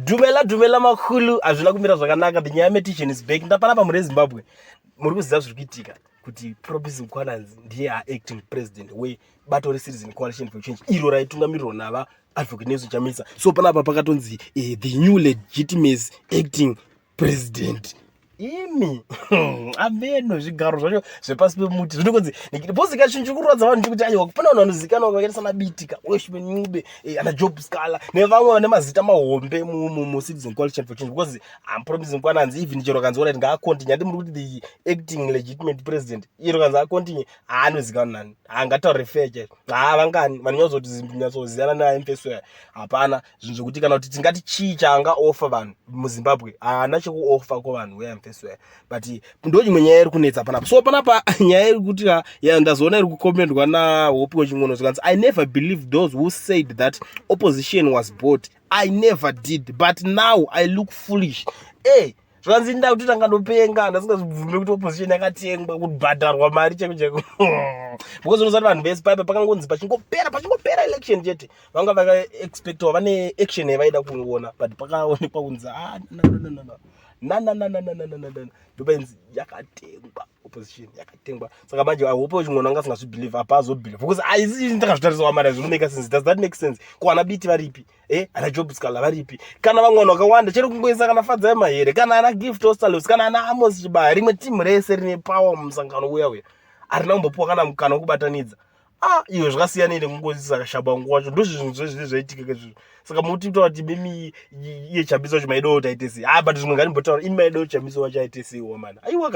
Dumela dumela makulu hazvina kumira zvakanaka the nyaya metician is back ndapana pamwe rezimbabwe muri kuziva zviri kuitika kuti propis mkwananzi ndiye aacting president webato recitizen coalition for change iro raitungamirirwa nava advocate nelson chamisa so panapa pakatonzi uh, the new legitimacy acting president imi ameno zvigaro zvacho zvepasi pemuti zviri kunzi bhozi ka chinhu chiri kurwadza vanhu chekuti aiwa kupona vanhu vanozivikanwa vakaita sana bitika weshman ncube eh, ana job scala nevamwe vane mazita mahombe mucitizen coalition for change because am promising kwana hanzi even chero kanzi orit ngaacontinue handi muri kuti the acting legitimate president iro kanzi acontinue haanozivikanwa nani haangataure fake haa vangani vanonyatso kuti zimbi nyatso ziyana neamfesoya hapana zvinhu zvekuti kana kuti tingati chii chaanga offer vanhu muzimbabwe haana chekuoffer kuvanhu weamfesware but ndo imwe nyaya iri kunetsa panapa so panapa nyaya iri kuti ah, ya ndazoona iri kukomendwa nahopi wechingono zvikanzi i never believe those who said that opposition was bought i never did but now i look foolish e eh, hey, zvanzi nda kuti tanga ndopenga ndasingazvibvume kuti opposition yakatengwa kubhadharwa mari cheko cheko because unozati vanhu vese paipa pakangonzi pachingopera pachingopera election chete vanga vakaexpectawa vane action yavaida kungoona but pakaonekwa kunzi ah, nananananananananananananana ndopainzi yakatengwa opposition yakatengwa saka manje i hope kuti mwana anga asingazvibelieve apa azobelieve because aisi ndakazvitarisawa mari zvinomaker sense does that make sense ko ana biti varipi eh ana job scala varipi kana vamwe vanhu vakawanda chero kungoisa kana fadzai mahere kana ana gift ostalos kana ana amos chibaya rimwe timu rese rine power mumusangano uya uya arina kumbopiwa kana mukana wekubatanidza ah iyo zvakasiyana ine kungoisisa kashaba nguva wacho ndozvi zvinhu zvezvii zvaitika kezvizvo saka muti kutaura kuti mimi iye chambiso wacho maidowo taitesei ha ah, but zvimwe nganimbotaura imi maidowo chambiso wacho aiteseiwo mana aiwa